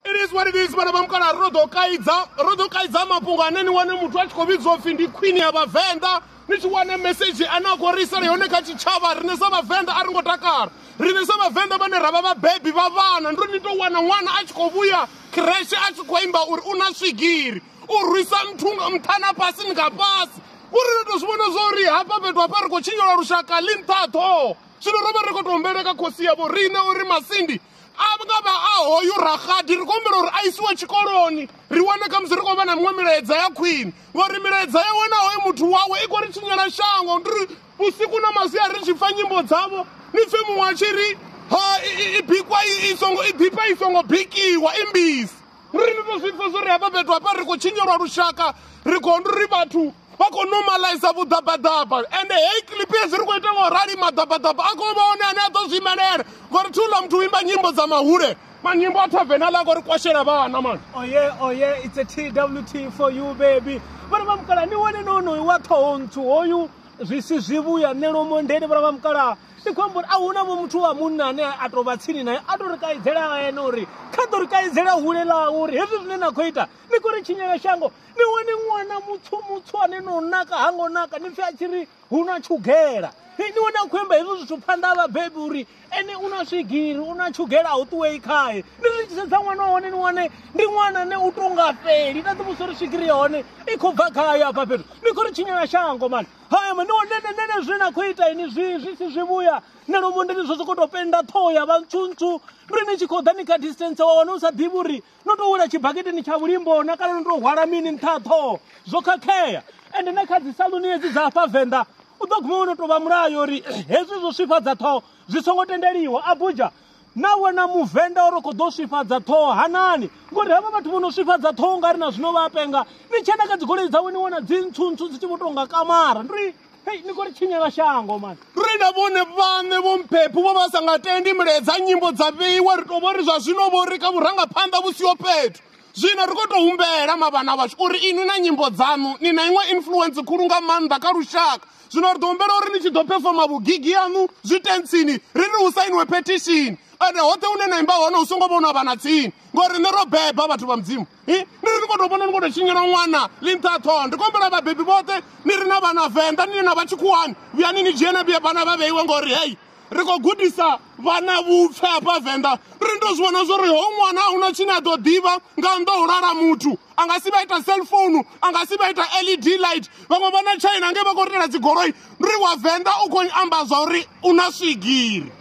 It is what it is vhana vha mukala ro ḓo kaidza ro ḓo kaidza mafhungo ane ni wane muthu a tshi khou vhidzwa upfhi ndi khwini ya vhavenḓa ni tshi wane mesedzhi ane a khou ri isela yone kha tshitshavha rine sa vhavenḓa a ri ngo takala rine sa vhavenḓa vhane ra vha vhabebi vha vhana ndo ni tou wana ṅwana a tshi khou vhuya kreshe a tshi khou imba uri u na swigiri u rwisa mthunga mthana fhasi ni nga fhasi uri ri tou zwi vhona zwa uri hafha fhethu hafha ri khou tshinyola lushaka ḽi nṱhaṱho zwino ro vha ri khou tou humbeleka khosi yavho rine uri masindi a nga vha a hoyu raxadi ri khou humbela uri a isiwe tshikoloni ri wane khamusi ri khou vha na miṅwe milaedza ya khwine ngori milaedza yawe na hoyu muthu wawe i khou ri tshinyela shango ndi ri vhusiku na masia ri tshi pfa nyimbo dzavho ni pfe muṅwe a tshi ri ha i bikwa i songo i ḓifha i songo bikiwa i mbisi ri ni to zwi pfa zwo ri hafha fhethu hafha ri khou tshinyelwa lushaka ri khou ndi ri vhathu vha khou normalize vhuḓabaḓaba ende heyi clip hezwi ri khou ita nga u rali maḓabaḓaba a khou vha one ane a ḓo zwi imelela ngori thi uḽa muthu u imba nyimbo dza mahule manyimbo a thavena ḽa khou ri kwashela vhana mani oye oh, oye oh, it's a twt for you baby vhana vha mukala ni wone nonoyu wa ṱhoho nthu hoyu zwi si zwivhuya ṋelomo ndeni vhana vha mukala ndi khou amba uri a huna vho muthu wa munna ane a tou vha tsini naye a tou ri kaidzela ene uri kha ḓo ri kaidzela hule ḽawe uri hezwi zwine na khou ita ni khou ri tshinyela shango ni wane ṅwana mutswu mutswu ane no naka ha ngo naka ni pfhi a tshi ri hu na tshugela ni wane a khou amba hezwo zwithu phanḓa ha vhabebi uri ene u na swigiri u na tshugela a u ṱuwei khae ni zwi tshi sedza ṅwana wa hone ni wane ndi ṅwana ne u to nga fheli na ḓivhusa uri swigiri ya hone i khou bva khayo afha fhethu ni khou ri tshinyela shango mani hayama ni wane nenene zwine na khou ita ini zwi zwi si zwi vhuya na lomondeni zwo sokou tou penda ṱhoho ya vha ntswuntswu ri ni tshi khou ḓa ni kha distance wa wane u sa ḓivhi uri no tou wela tshibaketeni tsha vhulimbo na kana no tou hwala mini nṱha ha ṱhoho zwo khakhea ende na kha dzisaluni hedzi dza afha venḓa u ḓo guma wo no tou vha mulayo uri hezwi zwo swifhadza ṱhoho zwi songo tendeliwa abuja na wena muvenḓa uri khou ḓo swifhadza ṱhoho hanani ngori havha vhathu vho no swifhadza ṱhoho nga ri na zwino vha penga ni tshena kha dzigoloi dzawe ni wana dzi ntswu ntswu dzi tshi vho tou nga kamara ndi hei ni khou ri tshinyela shango mani ri na vhone vhaṋe vho mphephi vho vha sa nga tendi milaedza nyimbo dza vheiwa ri tou vho ri zwa zwino vho ri kha vhurangaphanḓa vhu siho fhethu zwino ri khou tou humbela mavhana vhashu uri inwi na nyimbo dzaṋu ni na iṅwe influence khulu nga maanḓa kha lushaka zwino ri ḓo humbela uri ni tshi ḓo phefoma vhugigi yaṋu zwi tentsini ri ri hu sainiwe phethishini ende hoṱhe hune na imba hone hu songo vhonwa vha na tsini ngori nṋe ro beba vhathu vha mudzimu Hi, ni ri ni khou tou vhona ni khou tou tshinyela ṅwana ḽi nṱha ha ṱhoho ndi khou humbela vhabebi vhoṱhe ni ri na vhana venḓa ni na vha tshikhuwani vhuyani ni dzhie na vhuya vhana vha vheiwe ngori hei ri khou gudisa vhana vhupfe hafha venḓa ri ndo zwi vhona zwori ho ṅwana a huna tshine a ḓo ḓivha nga nnḓa ho lala muthu a nga si vha ita cellphone a nga si vha ita led light vhaṅwe vha na china nge vha khou ritela dzigoloi ndi ri wa venḓa u khou amba zwa uri u na swigiri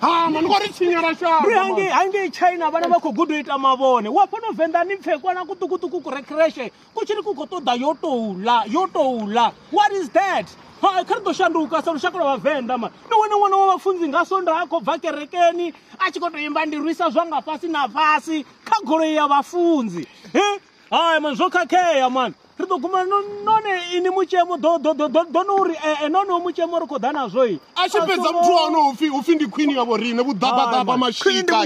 hama ni khou ri tshinyela shango ri hange hange china vhana vha khou guda u ita mavhone wa fhano venḓa ni pfhe kwana kuṱukuṱuku ku rekreshe ku tshiri ku khou ṱoḓa yo tou ḽa yo tou ḽa what is that ha kha ri ḓo shanduka sa lushaka lwa vhavenḓa ma ni wane ṅwana wa vhafunzi nga sonda a khou bva kerekeni a tshi khou tou imba ndi rwisa zwanga fhasi na fhasi kha goloi ya vhafunzi he hai man zwo khakhea man ri ḓo guma none ini mutshemo ḓo no uri ee eh, eh, none mutshemo ri khou ḓa nazwo i a tshi fhedza muthu wa hone upfhi upfhi ndi khwini yavho riṋe vhuḓabaḓaba mashika